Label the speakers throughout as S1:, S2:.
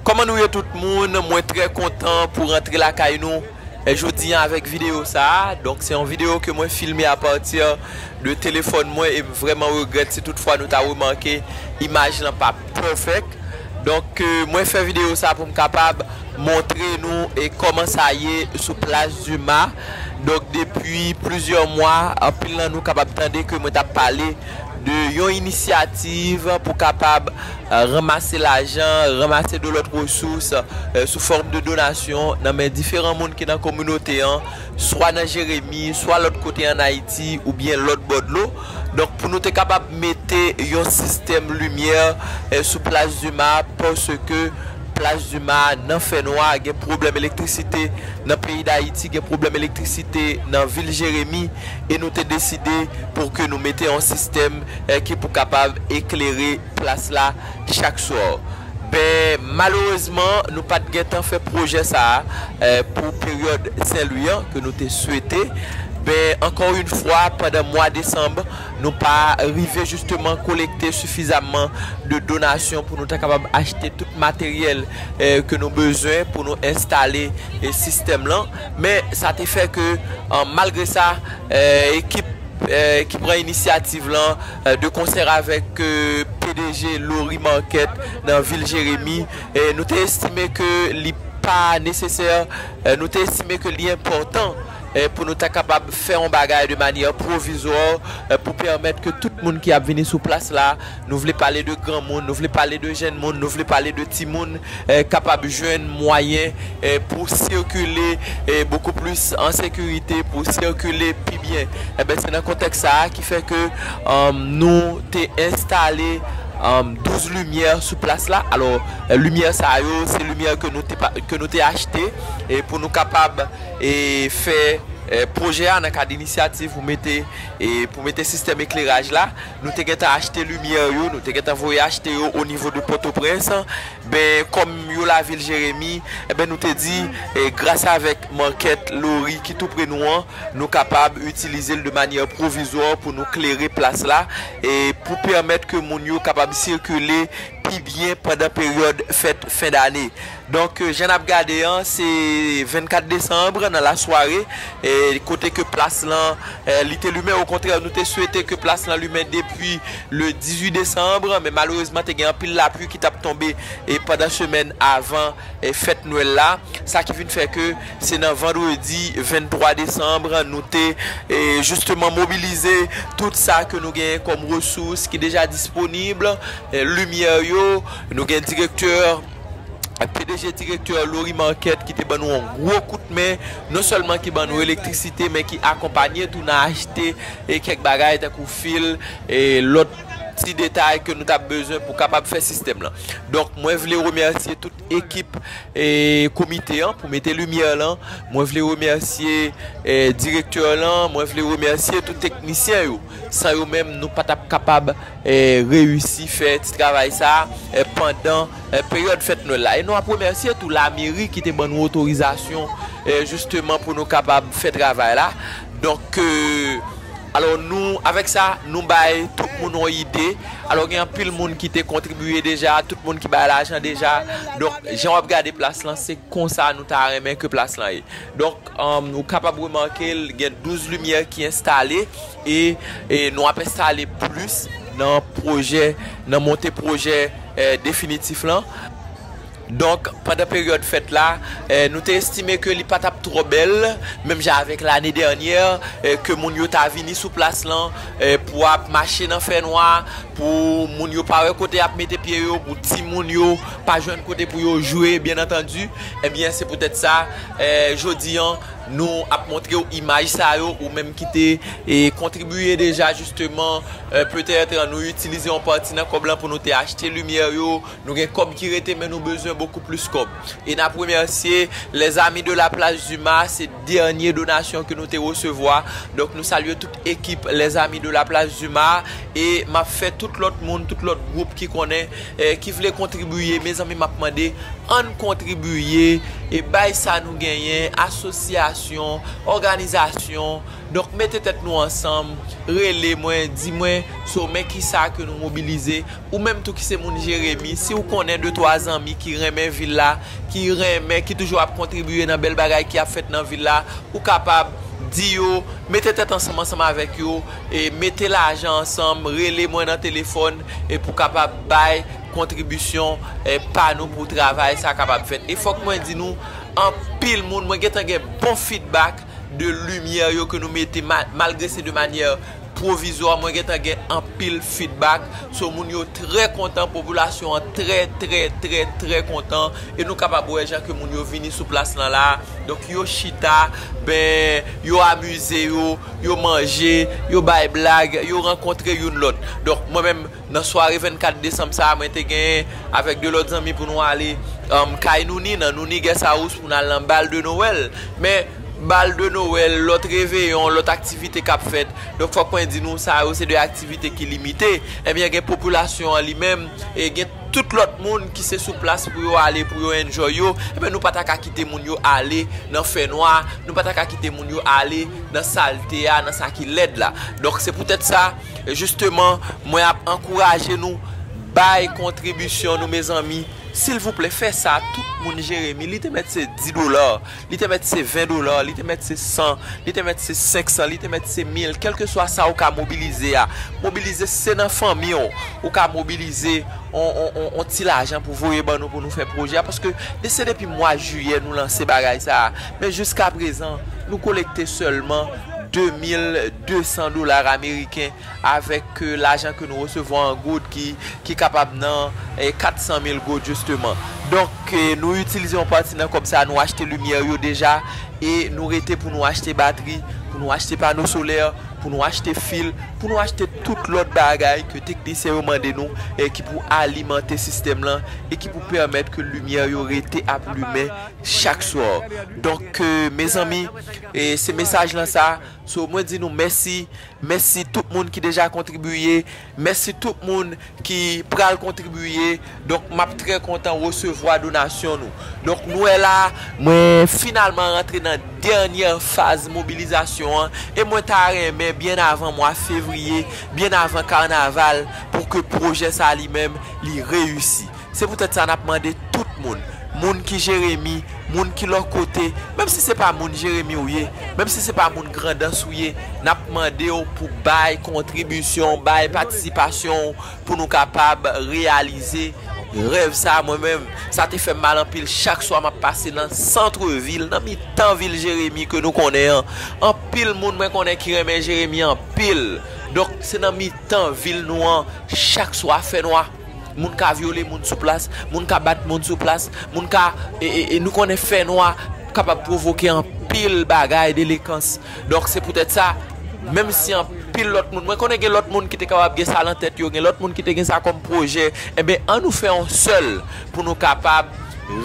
S1: Koman nou ye tout moun mwen trè kontan pou rantre lakay nou jodi an avèk videyo sa donk se yon videyo ke mwen filme apati de telefòn mwen em vrèman regrèt si tout fwa nou ta remake imaj lan pa pèfèk donk mwen fè videyo sa poum kapab montre nou koman sa ye sou plas duma. Donk depi plizyè mwa, anpil nan nou kapab tande ke mwen t ap pale de yon inisyativ pou kapab ranmase lajan, ranmase de lòt resous sou fòm de donasyon nan men diferan moun ki nan kominote an, swa nan Jeremi, swa lòt kote an Ayiti oubyen lòt bò dlo. Donk pou nou te kapab mete yon sistèm limyè sou Plas Duma paske Plas Duma a nan fè nwa, gen pwoblèm elektrisite nan peyi Dayiti, gen pwoblèm elektrisite nan vil Jeremi e nou te deside pou ke nou mete yon sistèm ki pou kapab eklere plas la chak swa. Ben, malerezman, nou pa t gentan fè pwojè sa a pou peryòd Sen Lwi an ke nou te swete. Ben, ankò yn fwa, pandan mwa desanm, Nou pa rive jisteman kolekte sifizamman de donasyon pou nou ta kapab achte tout materyèl ke nou bezwen pou nou enstale sistèm lan. Men sa te fè ke malgre sa ekip ki pran inisyativ lan de konsèr avèk pdg Lori Market nan vil Jeremi nou te estime ke li pa nesesè, nou te estime ke li enpòtan. pou nou ta kapab fè yon bagay de manyè pwovizwò pou pèmèt ke tout moun ki ap vini sou plas la, nou vle pale de granmoun, nou vle pale de jenn moun, nou vle pale de timoun, kapab jwenn mwayen pou sikile bokou plis an sekirite, pou sikile pi byen. Enben, se nan kontèks sa a ki fè ke nou te enstale 12 limyè sou plas la. Alò, limyè sa yo, se limyè ke nou te achte pou nou kapab. fè pwojè a nan kad inisyativ pou mete pou mete sistèm ekleraj la, nou te gentan achte limyè yo, nou te gentan voye achte yo o nivo de Pòtoprens, ben kòm yo lavil Jeremi, enben nou te di gras avèk Market Lori ki tou pre nou an, nou kapab itilize l de manyè pwovizwa pou nou klere plas la, pou pèmèt ke moun yo kapab sikile pi byen pandan peryòd fèt fen dane. Donk jan nap gade an se 24 Desanbre nan la sware kote ke plas lan li te limen okontrè nou te swete ke plas lan limen depi le 18 Desanbre men malerezman te gen anpil lapli ki tap tonbe pandan semèn avan fèt nwèl la sa ki vin fè ke se nan vandredi 23 Desanbre nou te jisteman mobilize tout sa ke nou gen kòm resous ki deja disponib limyè yo nou gen direktè pdg direktè Laurie Marquette ki te ban nou yon gwo kout men, non sèlman ki ban nou elektrisite men ki akonpanye tou nan achte kèk bagay tankou fil e lòt ti detay ke nou tap bezwen pou kapab fè sistèm lan. Donk mwen vle remèsye tout ekip komite an pou mete limyè lan, mwen vle remèsye direktè lan, mwen vle remèsye tout teknisyen yo san yo menm nou pa tap kapab reyisi fè ti travay sa pandan peryòd fèt nwèl la e nou ap remèsye tou lameri ki te ban nou otorizasyon jisteman pou nou kapab fè travay la donk alò nou avèk sa nou bay tout moun yon ide alò gen anpil moun ki te kontribiye deja tout moun ki bay lajan deja donk jan wap gade plas lan se konsa nou ta renmen ke plas lan ye donk ou kapab remake gen 12 limyè ki enstale. E nou ap enstale plis nan pwojè, nan monte pwojè definitif lan. Donk, pandan peryòd fèt la, nou te estime ke li pa t ap twò bèl, menm jan avèk lane dènyè, ke moun yo ta vini sou plas lan pou ap mache nan fènwa, pou moun yo pa wè kote y ap mete pye yo, pou timoun yo pa jwenn kote pou yo jwe, byennantandi. Ebyen, se poutèt sa, jodi an. Nou ap montrew imaj sa yo ou menm ki te kontribiye deja jisteman petèt nou itilize yon pati nan kòb lan pou nou te achte limyè yo, nou gen kòb ki rete men nou bezwen bokou plis kòb e nap remèsye les amis de la place Dumas se dènye donasyon ke nou te resevwa donk nou salye tout. ekip les amis de la place Dumas a e map fè tout lòt moun tout lòt gwoup ki konnen ki vle kontribiye mezanmi map mande ann kontribiye e bay sa nou genyen asosyasyon òganizasyon donk mete tèt nou ansanm rele mwen di mwen so men kisa ke nou mobilize Ou menm tou ki se moun Jeremi, si ou konnen de twa zanmi ki renmen vil la, ki renmen, ki toujou ap kontribiye nan bèl bagay ki ap fèt nan vil la, ou kapab di yo, mete tèt ansanm ansanm avèk yo, e mete lajan ansanm, rele mwen nan telefòn, e pou kapab bay kontribisyon pa nou pou travay sa kapab fèt. E fòk mwen di nou, anpil moun, mwen gentan gen bon fidbak de limyè yo ke nou mete, malgre se de manyè. pwovizwa mwen gentan gen anpil fidbak so moun yo trè kontan popilasyon an trè trè trè trè kontan e nou kapab wè jan ke moun yo vini sou plas lan la donk yo chita ben yo amize yo yo manje yo bay blag yo rankontre youn lòt donk mwen menm Nan sware 24 desanm sa a, mwen te gen avèk 2 lòt zanmi pou nou ale kay Nouni, nan Nouni Guest House pou n al nan bal de Nowèl. Men, bal de Nowèl, lòt reveyon, lòt aktivite k ap fèt. Donk fòk mwen di nou sa yo se 2 aktivite ki limite. Ebyen gen popilasyon an li menm, e gen tout lòt moun ki se sou plas pou yo ale pou yo enjoy yo. Ebyen nou pa ta ka kite moun yo ale nan fè nwa, nou pa ta ka kite moun yo ale nan salte a, nan sa ki lèd la. Donk se poutèt sa. E jisteman mwen ap ankouraje nou bay kontribisyon nou mezanmi silvouplè fè sa tout moun jeremi li te mèt se 10 dola li te mèt se 20 dola li te mèt se 100 li te mèt se 500 li te mèt se 1000 kèlkeswa sa ou ka mobilize a mobilize si se nan fanmi w ou ka mobilize on ti lajan pou voye ban nou pou nou fè pwojè a paske se depi mwa jiyè nou lanse bagay sa a. Men jiskaprezan, nou kolekte sèlman 2,200 dola ameriken avèk lajan ke nou resevwa an goud ki kapab nan 400 mil goud jisteman. Donk, nou itilize yon pati nan kòb sa a, nou achte limyè yo deja e nou rete pou nou achte batri, pou nou achte pano solè, pou nou achte fil, pou nou achte tout lòt bagay ke teknisyen yo mande nou ki pou alimante sistèm lan e ki pou pèmèt ke limyè yo rete ap limen. chak swa donk ke mezanmi e se mesaj lan sa so mwen di nou mèsi mèsi tout moun ki deja kontribiye mèsi tout moun ki pral kontribiye donk map trè kontan resevwa donasyon nou donk nou wè la mwen finalman rantre nan dènyè faz mobilizasyon an e mwen ta renmen byen avan mwa fevriye byen avan karnaval pou ke pwojè sa li menm li reyisi. Se poutèt sa n ap mande tout moun, moun ki Jeremi, moun ki lòt kote, menm si se pa moun Jeremi ou ye, menm si se pa moun Grandans ou ye, n ap mande w pou bay kontribisyon w, bay patisipasyon w pou nou kapab reyalize rèv sa a. Mwen menm, sa te fè m mal anpil chak swa m ap pase nan santre vil, nan mitan vil Jeremi ke nou konnen an. Anpil moun mwen konnen ki renmen Jeremi anpil. Donk, se nan mitan vil nou an chak swa fènwa. Moun ka vyole moun sou plas, moun ka bat moun sou plas, moun ka, e nou konnen fè nwa kapab pwovoke anpil bagay, delekans. Donk se poutèt sa, menm si anpil lòt moun, mwen konnen gen lòt moun ki te kapab gen sa lan tèt yo, gen lòt moun ki te gen sa kòm pwojè, enben an nou fè yon sèl pou nou kapab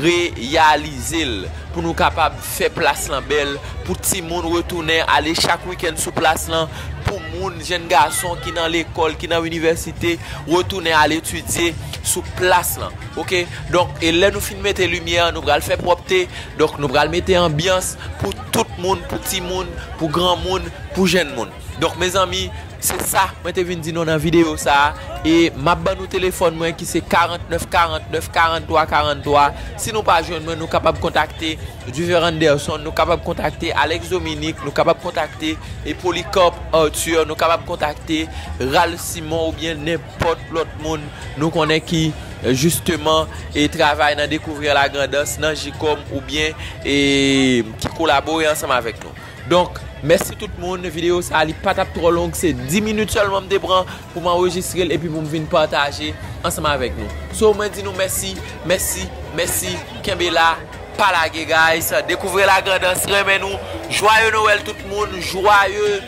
S1: reyalize l, pou nou kapab fè plas lan bèl, pou timoun retounen ale chak wikenn sou plas lan. pou moun, jenn gason ki nan lekòl, ki nan inivèsite, retounen al etidye sou plas lan. Ok, donk, e lè nou fin mete limyè, nou pral fè pwòpte, donk nou pral mete anbyans pou tout moun, pou timoun, pou granmoun, pou jenn moun. Donk mezanmi, se sa mwen te vin di nou nan videyo sa a, e m ap ban nou telefòn mwen ki se 49 49 43 43, si nou pa jwenn mwen nou kapab kontakte. Duver Anderson, nou kapab kontakte Alex Dominique, nou kapab kontakte Polycarpe Arthur, nou kapab kontakte Ralph Simon oubyen nenpòt lòt moun nou konnen ki jisteman e travay nan Découvrir la Grand'Anse nan JICOM oubyen e ki kolabore ansanm avèk nou. Donk mèsi tout moun, videyo sa li pa tap twò long se 10 minit sèlman m te pran pou m anrejistre l epi pou m vin pataje ansanm avèk nou. So mwen di nou mèsi, mèsi, mèsi, kenbe la, pa lage guys, dekouvre la grandans renmen nou, jwaye nowèl tout moun, jwaye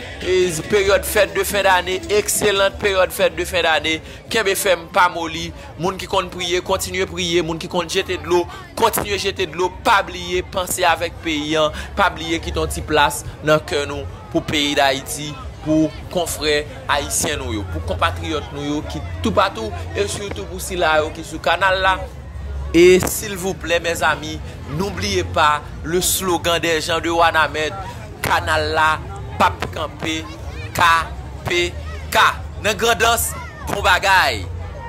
S1: peryòd fèt de fen dane, ekselant peryòd fèt de fen dane, kenbe fèm pa moli. Moun ki konn priye, kontinye priye, moun ki konn jete dlo, kontinye jete dlo, pa bliye panse avèk peyi an, pa bliye kite yon ti plas nan kè nou pou peyi Dayiti, pou konfrè ayisyen nou yo, pou konpatriyòt nou yo ki toupatou e sitou pou sila yo ki sou kanal la. E silvouplè mèzami, noubliye pa le slogan des gens de Wanament, kanal la pap kanpe KPK nan Grandans bon bagay!